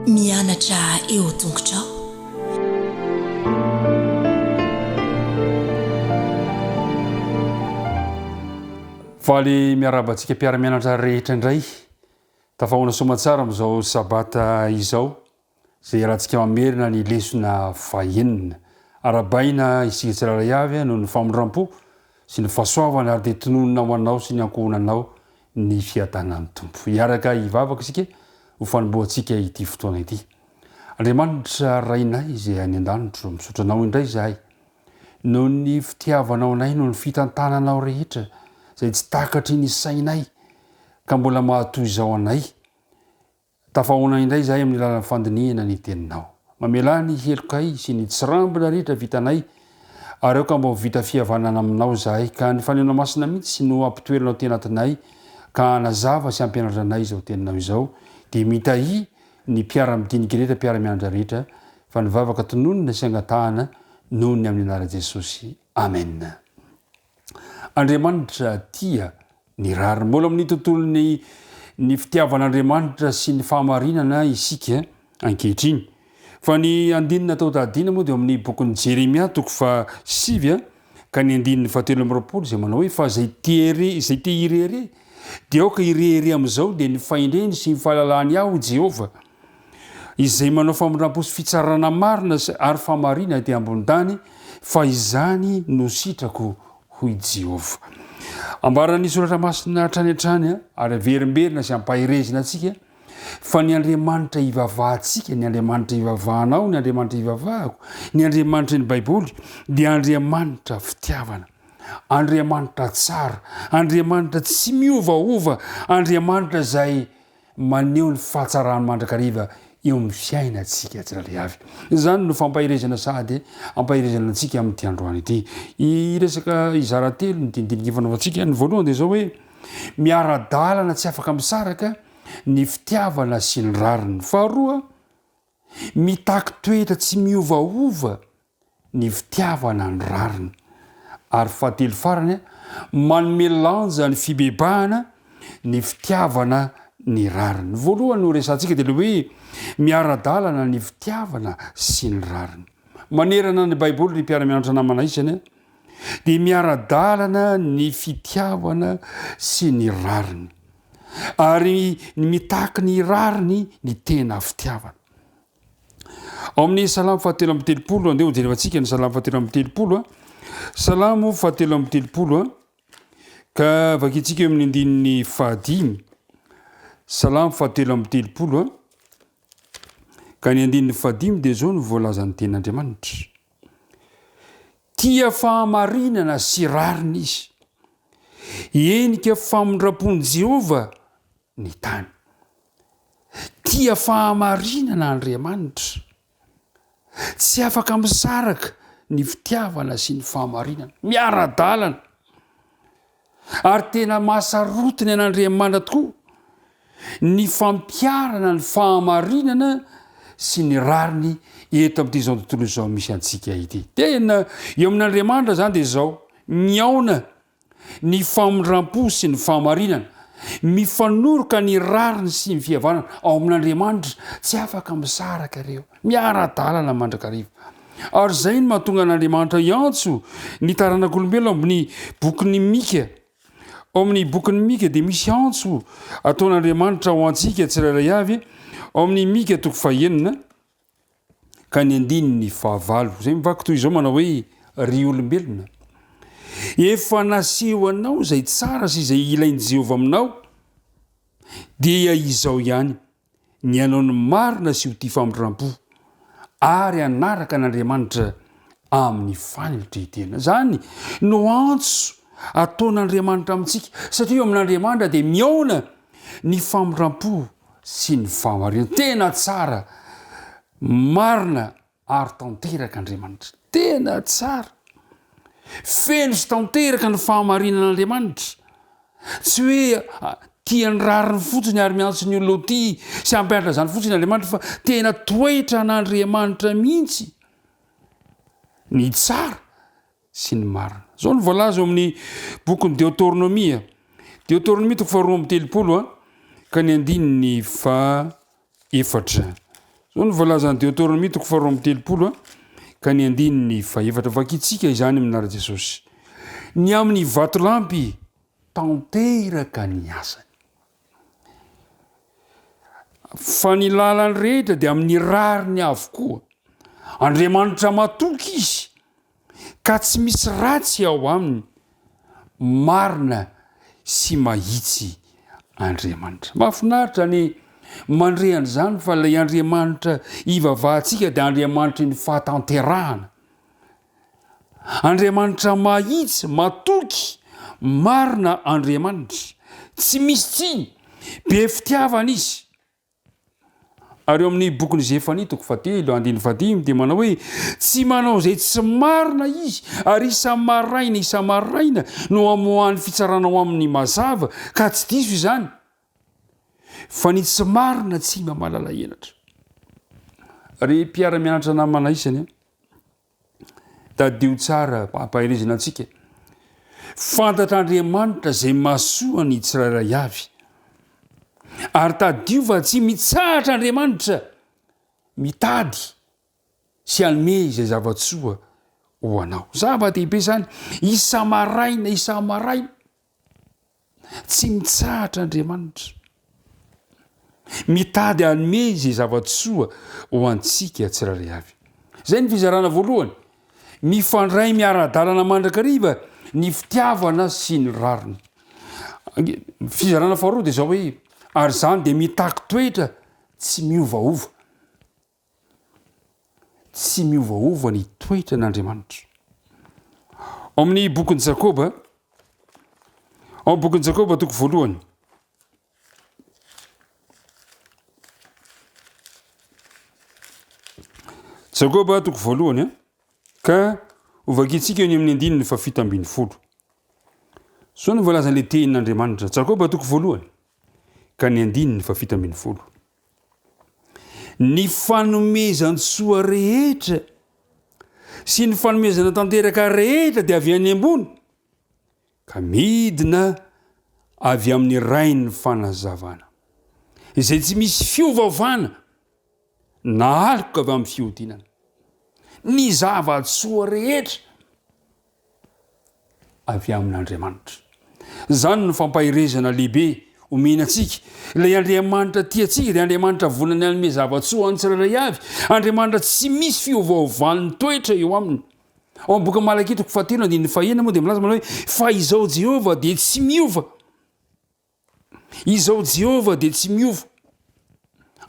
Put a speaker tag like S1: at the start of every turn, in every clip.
S1: Mianatra eo tongotrao.
S2: Faly miarahaba antsika mpiara-mianatra rehetra indray. Tafahoana soamantsara amin'izao sabata izao. izay iarahantsika mamerina ny lesona fahenina. Arahabaina isika tsirairay avy noho ny famindram-po sy ny fahasoavana ary dia tononina ho anao sy ny ankohonanao ny fiadanan'ny Tompo. Hiaraka hivavaka isika ho fanombohantsika ity fotoana ity. Andriamanitra Rainay izay any an-danitro, misaotra Anao indray izahay noho ny fitiavanao anay, noho ny fitantananao rehetra izay tsy takatry ny sainay ka mbola mahatoy izao anay. Tafahaona indray izahay amin'ny alalan'ny fandinihana ny Teninao. Mamelà ny helokay sy ny tsirambina rehetra vitanay, ary aoka mba ho vita fihavanana Aminao izahay, ka ny Fanahinao Masina mihitsy no hampitoeranao tena atinay, ka hanazava sy hampianatra anay izao Teninao izao, dia mitahia ny mpiara-midinika rehetra, mpiara-mianatra rehetra, fa ny vavaka tononina sy angatahana noho ny amin'ny Anaran'i Jesosy. Amena. Andriamanitra tia ny rariny. Mbola amin'ny tontolon'ny ny fitiavan'Andriamanitra sy ny fahamarinana isika ankehitriny. Fa ny andininy atao tadiana moa dia amin'ny bokin'ny Jeremia toko fa sivy ka ny andininy fahatelo amby roapolo izay manao hoe fa izay tiere izay te hirehere dia aoka hirehere amin'izao dia ny fahendreny sy ny fahalalahany aho Jehovah Izay manao famindrampo sy fitsarana marina sy ary famarina ety ambony tany, fa izany no sitrako, hoy Jehovah. Ambaran'ny Soratra Masina hatrany hatrany ary averimberina sy ampaherezina antsika fa ny Andriamanitra ivavahantsika, ny Andriamanitra ivavahanao, ny Andriamanitra ivavahako, ny Andriamanitry ny Baiboly dia Andriamanitra fitiavana. Andriamanitra tsara, Andriamanitra tsy miovaova, Andriamanitra izay Maneho ny fahatsarany mandrakariva eo amin'ny fiainantsika tsirairay avy. Izany no fampaherezana sady hampaherezana antsika amin'ity androany ity. Ny resaka hizara telo ny dinidinika ifanaovantsika, ny voalohany dia izao hoe miara-dalana tsy afaka misaraka ny fitiavana sy ny rariny. Faharoa, mitaky toetra tsy miovaova ny fitiavana ny rariny, ary fahatelo farany, manome lanja ny fibebahana ny fitiavana ny rariny. Ny voalohany no resahantsika dia ilay hoe miara-dalana ny fitiavana sy ny rariny. Manerana ny Baiboly ry mpiara-mianatra namana isany dia miara-dalana ny fitiavana sy ny rariny, ary ny mitaky ny rariny ny tena fitiavana. Ao amin'ny salamo fahatelo amby telopolo, andeha ho jerevantsika ny salamo fahatelo amby telopolo a. Salamo fahatelo amby telopolo a, ka vakintsika eo amin'ny andininy fahadimy. Salamo fahatelo amby telopolo a, ka ny andininy fahadimy dia izao no voalazan'ny tenin'Andriamanitra. Tia fahamarinana sy rariny izy. Henika famindram-pon'i Jehovah ny tany. Tia fahamarinana Andriamanitra. Tsy afaka misaraka ny fitiavana sy ny fahamarinana. Miara-dalana. Ary tena mahasarotiny an'Andriamanitra tokoa ny fampiarana ny fahamarinana sy ny rariny eto amin'ity izao tontolo izao misy antsika ity. Tena eo amin'Andriamanitra zany dia izao, miaona ny famindram-po sy ny fahamarinana, mifanoroka ny rariny sy ny fihavanana ao amin'Andriamanitra, tsy afaka misaraka ireo, miara-dalana mandrakariva. Ary izay no mahatonga an'Andriamanitra hiantso ny taranak'olombelona amin'ny bokin'ny Mika. Ao amin'ny bokin'ny Mika dia misy antso ataon'Andriamanitra ho antsika tsirairay avy, ao amin'ny Mika toko fahenina, Ka ny andininy fahavalo, izay mivaky toy izao manao hoe, Ry olombelona, efa naseho anao izay tsara sy izay ilain'i Jehovah aminao, dia izao ihany, ny hanao ny marina sy ho tia famindrampo, ary hanaraka an'Andriamanitra amin'ny fanetren-tena. Izany no antso ataon'Andriamanitra amintsika, satria eo amin'Andriamanitra dia mihaona ny famindrampo. sy ny fahamarinan tena tsara marina ary tanteraka Andriamanitra tena tsara feno sy tanteraka ny fahamarinana Andriamanitra tsy hoe ah, tia ny rariny fotsiny ary miantso ny olona ho tia sy hampianatra izany fotsiny Andriamanitra fa tena toetra an'Andriamanitra mihitsy ny tsara sy ny marina. Izao no voalaza ao amin'ny bokin'ny Deoteronomia, Deoteronomia toko faharoa amby telopolo a, ka ny andininy fa efatra. Izao no voalazan'ny Deoteronomia toko faharoa amby telopolo a, ka ny andininy fa efatra. Vakintsika izany amin'ny anaran'i Jesosy. Ny amin'ny vatolampy tanteraka ny asany. Fa ny lalany rehetra dia amin'ny rariny avokoa. Andriamanitra matoky izy, ka tsy misy ratsy ao aminy. Marina sy mahitsy Andriamanitra. Mahafinaritra ny mandre an'izany fa ilay Andriamanitra ivavahantsika dia Andriamanitry ny fahatanterahana. Andriamanitra mahitsy, matoky, marina Andriamanitra, tsy misy tsiny, be fitiavana izy. Ary eo amin'ny bokin'i Zefania toko fahatelo andininy fahadimy dia manao hoe tsy manao izay tsy marina izy ary isa-maraina isa-maraina no amoahany fitsarana ho amin'ny mazava ka tsy diso izany. Fa ny tsy marina tsy mba malala henatra. Ry mpiara-mianatra namana isany, tadidio tsara ampaherezina antsika. Fantatr'Andriamanitra izay masoa ny tsirairay avy. Ary tadidio fa tsy mitsahatra Andriamanitra mitady sy hanome izay zava-tsoa ho anao. Zava-dehibe izany, isa-maraina, isa-maraina. Tsy mitsahatra Andriamanitra. Mitady hanome izay zava-tsoa ho antsika tsirairay avy. Izay ny fizarana voalohany. Mifandray miara-dalana mandrakariva ny fitiavana sy ny rariny. Fizarana faharoa dia izao hoe, ary izany dia mitaky toetra tsy miovaova. Tsy miovaova ny toetran' Andriamanitra. Ao amin'ny bokin'i Jakoba, ao amin'ny bokin'i Jakoba toko voalohany. Jakoba toko voalohany an, ka hovakintsika ny amin'ny andininy fa fito ambin'ny folo. Zao no voalazan'ilay tenin'Andriamanitra, Jakoba toko voalohany, ka ny andininy fa fito ambin'ny folo. ny fanomezan-tsoa rehetra sy ny fanomezana tanteraka rehetra dia avy any ambony ka midina avy amin'ny rain'ny fanazavana izay tsy misy fiovavana na aloka avy amin'ny fihodinana ny zava-tsoa rehetra avy amin'Andriamanitra. Izany no fampaherezana lehibe omena antsika. Ilay Andriamanitra tia antsika dia Andriamanitra vonona ny hanome zava-tsoa ho an'ny tsirairay avy, Andriamanitra tsy misy fiovaovan'ny toetra eo aminy. Ao amin'ny boky Malakia toko fahatelo andininy fahenina moa dia milaza manao hoe fa izao Jehovah dia tsy miova. Izaho Jehovah dia tsy miova.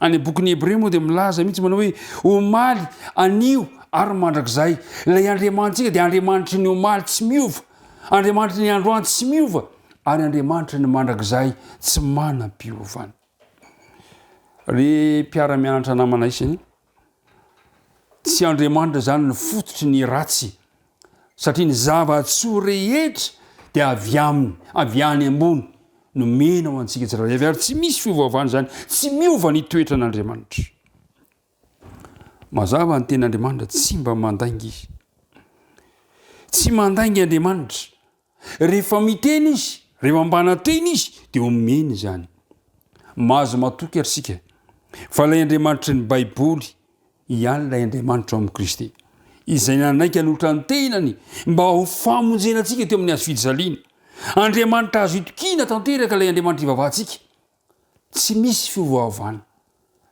S2: Any amin'ny bokin'ny Hebreo moa dia milaza mihitsy manao hoe omaly, anio ary mandrakizay. Ilay Andriamanitsika dia Andriamanitry ny omaly tsy miova, Andriamanitry ny androany tsy miova, ary Andriamanitry ny mandrakizay tsy manam-piovana. Ry mpiara-mianatra namana isany, Tsy Andriamanitra izany ny fototry ny ratsy, satria ny zava-tsoa rehetra dia avy aminy, avy any ambony, nomena ho antsika tsirairay avy, ary tsy misy fiovaovana izany, tsy miova ny toetran'Andriamanitra. Mazava ny tenin'Andriamanitra, tsy mba mandainga izy. Tsy mandainga Andriamanitra, Rehefa miteny izy, rehefa mpanantena izy, dia omeny izany. Mahazo matoky ary isika fa ilay Andriamanitry ny Baiboly ihany ilay Andriamanitra ao amin'i Kristy, izay nanaiky hanolotra ny tenany mba ho famonjena antsika teo amin'ny hazo fijaliana. Andriamanitra azo itokiana tanteraka ilay Andriamanitra ivavahantsika. Tsy misy fiovaovana.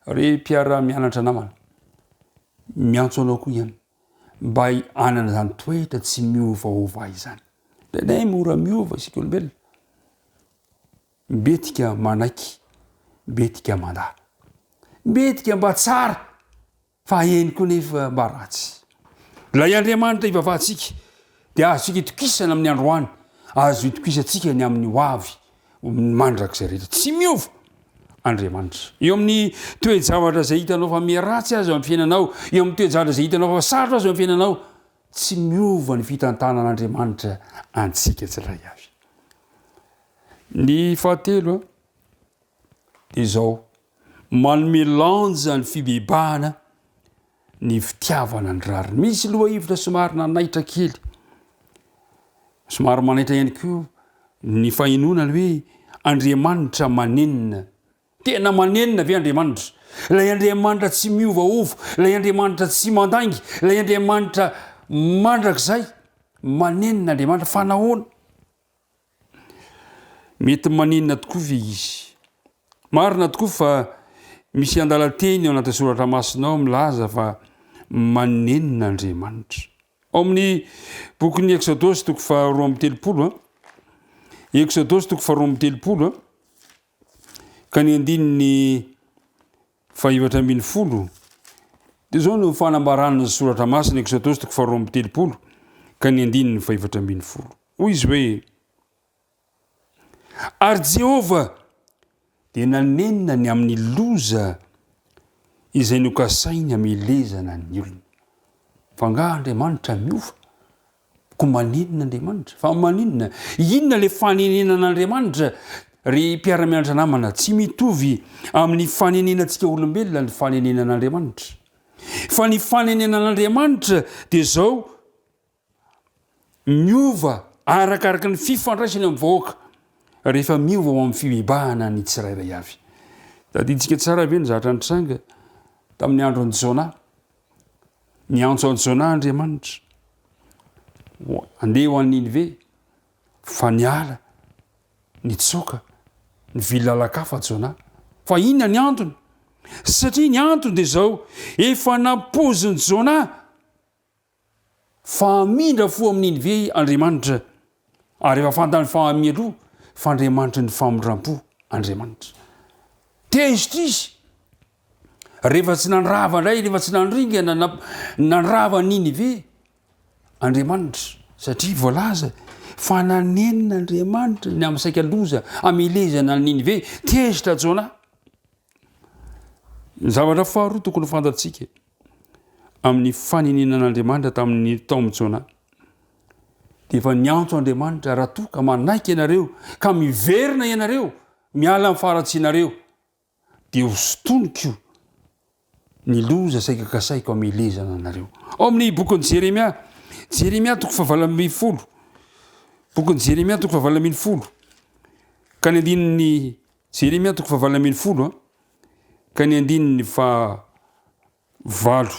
S2: Re mpiara-mianatra namana, miantso anao koa ihany. mba hanana izany toetra tsy miovaova izany. Tenay mora miova isika olombelona. Mbetika manaiky, mbetika mandà. Mbetika mba tsara, fa eny koa nefa mba ratsy. Ilay Andriamanitra ivavahantsika dia azo itokisana amin'ny androany, azo itokisantsika ny amin'ny hoavy. Ho mandrakizay rehetra. Tsy miova Andriamanitra. Eo amin'ny toe-javatra izay hitanao fa miharatsy aza eo amin'ny fiainanao, eo amin'ny toe-javatra izay hitanao fa sarotra aza eo amin'ny fiainanao, tsy miova ny fitantanan'Andriamanitra antsika tsirairay avy. Ny fahatelo a, dia izao, manome lanja ny fibebahana ny fitiavana ny rariny. Misy lohahevitra somary nanaitra kely, somary manaitra ihany koa ny fahenoana hoe Andriamanitra manenina. Tena manenina ve Andriamanitra? Ilay Andriamanitra tsy miovaova, ilay Andriamanitra tsy mandainga, ilay Andriamanitra mandrakizay, manenina Andriamanitra fa nahoana? Mety maninona tokoa ve izy? Marina tokoa fa misy andalan-teny ao anatin'ny soratra masina ao milaza fa manenina Andriamanitra. Ao amin'ny bokin'ny Eksodosy toko faharoa amby telopolo, Eksodosy toko faharoa amby telopolo, ka ny andininy fahefatra ambin'ny folo, dia izao no fanambaran'ny soratra masina Eksodosy toko faharoa amby telopolo, ka ny andininy fahefatra ambin'ny folo. Hoy izy hoe, Ary Jehovah dia nanenina ny amin'ny loza izay nokasainy hamelezana ny olony. Fa angaha Andriamanitra miova? Koa manenina Andriamanitra? Fa maninona? Inona ilay fanenenan'Andriamanitra? Ry mpiara-mianatra namana, tsy mitovy amin'ny fanenenantsika olombelona ny fanenenan'Andriamanitra. Fa ny fanenenan'Andriamanitra dia izao, Miova arakaraka ny fifandraisany amin'ny vahoaka rehefa miova ao amin'ny fibebahana ny tsirairay avy. Tadidintsika tsara ve ny zavatra nitranga tamin'ny andron'i Jona? Niantso an'i Jona Andriamanitra. Andeha ho an'i Ninive fa niala nitsoaka ny vily lalan-kafa Jona. Fa inona ny antony? Satria ny antony dia izao, efa nampoizin'i Jona fa hamindra fo amin'iny ve Andriamanitra? Ary efa fantany fa mialoha fa Andriamanitry ny famindram-po Andriamanitra. Tezitra izy rehefa tsy nandrava indray, rehefa tsy nandringana na nandrava an'iny ve Andriamanitra? Satria voalaza fa nanenina Andriamanitra ny amin'ny saika loza amelezana an'iny ve? Tezitra Jona. Ny zavatra faharoa tokony fantatsika. amin'ny faneninan'Andriamanitra tamin'ny taomin'i Jona. Dia efa niantso Andriamanitra raha toa ka manaiky ianareo ka miverina ianareo miala amin'ny faharatsianareo dia ho sotoniko ny loza saika kasaiko amelezana anareo. Ao amin'ny bokin'i Jeremia, Jeremia toko fahavalami folo, bokin'i Jeremia toko fahavalami folo, ka ny andininy Jeremia toko fahavalami folo, ka ny andininy faha valo.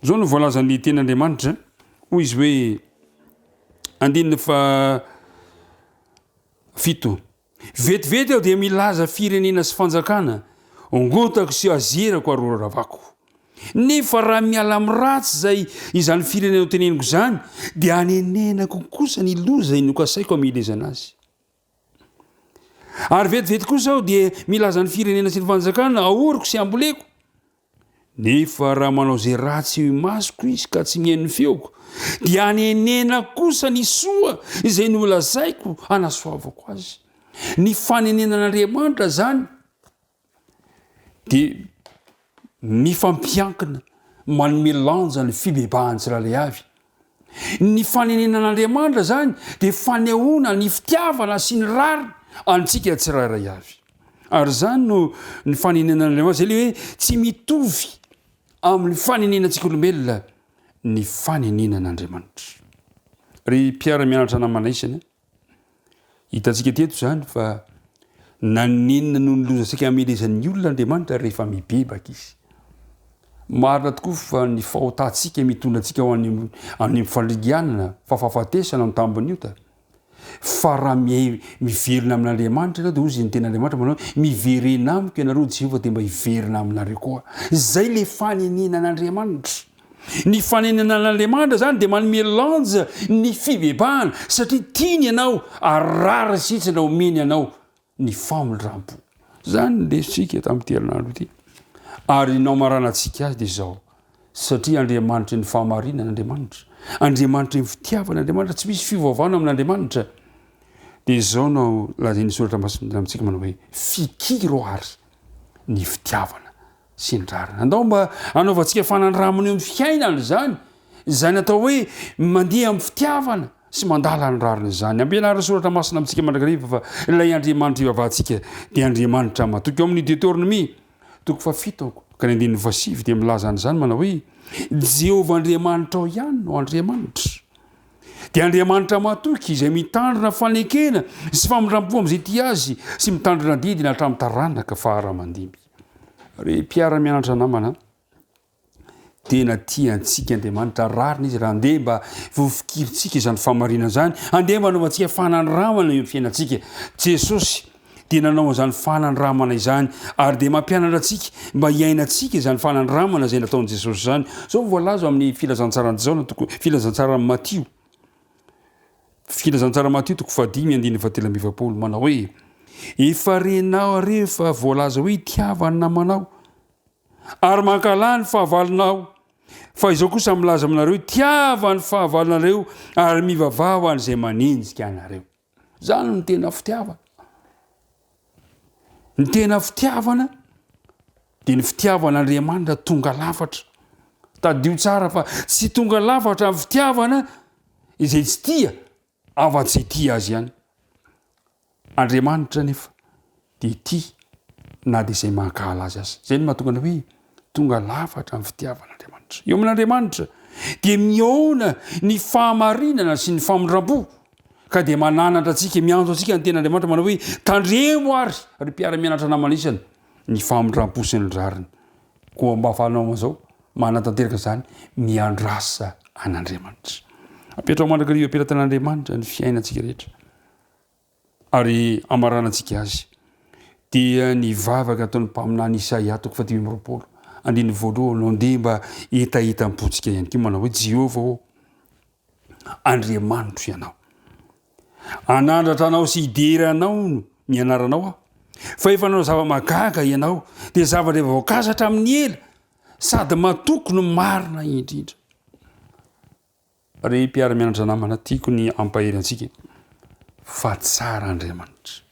S2: Izao no voalazan'ny teny Andriamanitra, hoy izy hoe andininy faha fito. Vetivety aho dia milaza firenena sy fanjakana, ongotako sy azerako ary horavako. Nefa raha miala amin'ny ratsy izay izany firenena ho teneniko izany, dia anenenako kosa ny loza inokasaiko amin'ny ilezana azy. Ary vetivety kosa aho dia milaza ny firenena sy ny fanjakana ahoriko sy amboleko. Nefa raha manao izay ratsy eo imasoko izy ka tsy mihaino ny feoko, dia anenenako kosa ny soa izay nolazaiko hanasoavako azy. Ny fanenenan'Andriamanitra izany dia mifampiankina manome lanja ny fibebahan'ny tsirairay avy. Ny fanenenan'Andriamanitra zany dia fanehoana ny fitiavana sy ny rariny antsika tsirairay avy. Ary zany no ny fanenenan'Andriamanitra zay le hoe tsy mitovy amin'ny fanenenantsika olombelona ny fanenenan'Andriamanitra. Ry mpiara-mianatra namana isany, Hitantsika teto izany fa naninona no nilozantsika hamelezan'ny olona Andriamanitra rehefa mibebaka izy. Marina tokoa fa ny fahotantsika mitondra antsika ho any amin'ny fandringanana, fa fahafatesana no tambin'ny ota. Fa raha miverina amin'Andriamanitra ianao dia hoy izy ny tena Andriamanitra manao miverena amiko ianareo Jehovah dia mba hiverina aminareo koa. Izay le fanenenan'Andriamanitra. Ny fanenenan'Andriamanitra izany dia manome lanja ny fibebahana satria tiany ianao ary rariny sy hitsiny raha omeny anao ny famindrampo. Izany no resintsika tamin'ity herinandro ity ary ny namaranantsika azy dia izao satria Andriamanitry ny fahamarinana Andriamanitra, Andriamanitry ny fitiavana Andriamanitra, tsy misy fiovaovana amin'Andriamanitra. Dia izao no lazain'ny soratra masina amintsika manao hoe fikiro ary ny fitiavana sy ny rariny. Andao mba hanaovantsika fanandramana eo amin'ny fiainana izany, izay natao hoe mandeha amin'ny fitiavana sy mandala ny rariny izany. Ampianarin'ny soratra masina amintsika mandrakariva fa ilay Andriamanitra ivavahantsika dia Andriamanitra matoky. Ao amin'ny Deoteronomia, toko fahafito ka ny andininy fahasivy dia milaza an'izany manao hoe, Jehovah Andriamanitrao ihany no Andriamanitra. Dia Andriamanitra matoky izay mitandrina fanekena sy famindram-po amin'izay tia azy sy mitandrina didy na hatramin'ny taranaka faharaman-dimy. Ry mpiara-mianatra namana, tena tia antsika Andriamanitra, rariny izy raha andeha mba vofikirintsika izany fahamarinana izany, andeha mba anaovantsika fanandramana eo fiainantsika. Jesosy dia nanao an'izany fanandramana izany ary dia mampianatra antsika mba hiainantsika izany fanandramana izay nataon'i Jesosy izany. Izao voalaza amin'ny filazantsaran'i Jaona, filazantsaran'i Matio. Filazantsara Matio toko fahadimy andininy fahatelo amby efapolo manao hoe, Efa renao re fa voalaza hoe hitiava ny namanao, ary mankahala ny fahavalonao. Fa izao kosa milaza aminareo hoe tiava ny fahavalonareo ary mivavaha ho an'izay manenjika anareo. Izany no tena fitiavana. Ny tena fitiavana dia ny fitiavan'Andriamanitra tonga lafatra. Tadidio tsara fa tsy tonga lafatra amin'ny fitiavana izay tsy tia afa-tsy hitia azy ihany. Andriamanitra anefa dia tia na dia izay mankahala azy aza. Izay no mahatonga ny hoe Tonga lafatra amin'ny fitiavan'Andriamanitra. Eo amin'Andriamanitra dia mihaona ny fahamarinana sy ny famindram-po, ka dia mananatra antsika, miantso antsika ny ten'Andriamanitra manao hoe, tandremo ary ry mpiara-mianatra namana isany ny famindram-po sy ny rariny. Koa mba fanao an'izao, manatanteraka izany, miandrasa an'Andriamanitra. Apetraho mandrakariva am-pelatanan'Andriamanitra ny fiainantsika rehetra. Ary hamaranantsika azy, dia ny vavaka ataon'ny mpaminany Isaia, toko fahadimy amby roapolo, andininy voalohany, no andeha mba hetahetam-pontsika ihany koa, manao hoe, Jehovah ô, Andriamanitro ianao. Hanandratra anao sy hidera anao ny anaranao aho. Fa efa nanao zava-mahagaga ianao, dia zavatra efa voakasa hatramin'ny ela, sady matoky no marina indrindra. Ry mpiara-mianatra namana tiako ny hampahery antsika fa tsara Andriamanitra.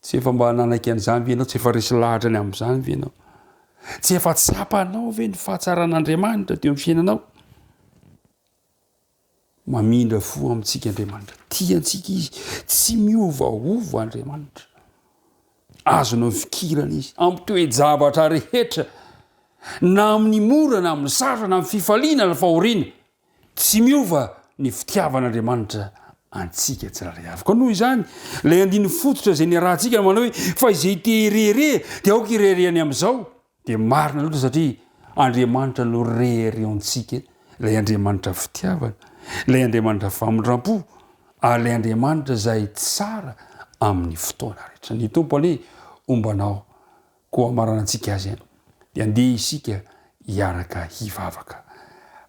S2: Tsy efa mba nanaiky an'izany ve ianao? Tsy efa resy lahatra ny amin'izany ve ianao? Tsy efa tsapanao ve ny fahatsaran'Andriamanitra teo amin'ny fiainanao? Mamindra fo amintsika Andriamanitra. Tia antsika izy. Tsy miovaova Andriamanitra. Azonao ifikirana izy amin'ny toe-javatra rehetra, na amin'ny mora na amin'ny sarotra na amin'ny fifaliana na fahoriana. Tsy miova ny fitiavan'Andriamanitra antsika tsirairay avy. Koa noho izany, ilay andininy fototra izay niarahantsika manao hoe, Fa izay te-hirehareha dia aoka hireharehany amin'izao. Dia marina loatra satria Andriamanitra no reheriontsika, ilay Andriamanitra fitiavana, ilay Andriamanitra famindrampo, ary ilay Andriamanitra izay tsara amin'ny fotoana rehetra. Ny Tompo anie homba anao, koa hamaranantsika Azy an, dia andeha isika hiaraka hivavaka.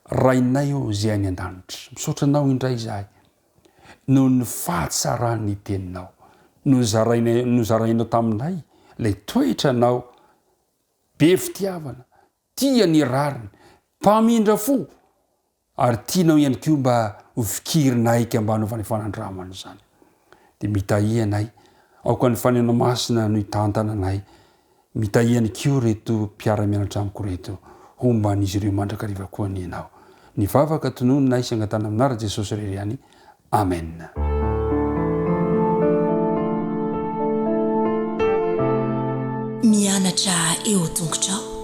S2: Rainay ô izay any an-danitra, misaotra Anao indray izahay. noho ny fahatsaran'ny teninao. Nozarainay, nozarainao taminay ilay toetranao be fitiavana, tia ny rariny, mpamindra fo, ary tianao ihany koa mba ho fikirinaiky mba hanaovanay fanandramana izany. Dia mitahianay, aoka ny Fanahinao Masina no hitantana anay, Mitahy ihany koa ireto mpiara-mianatra amiko ireto, homba an'izy ireo mandrakariva koa anie ianao. Ny vavaka tononina ahy sy angatahana aminà Ra Jesosy irery ihany. Amena.
S1: Mianatra eo an-tongotrao.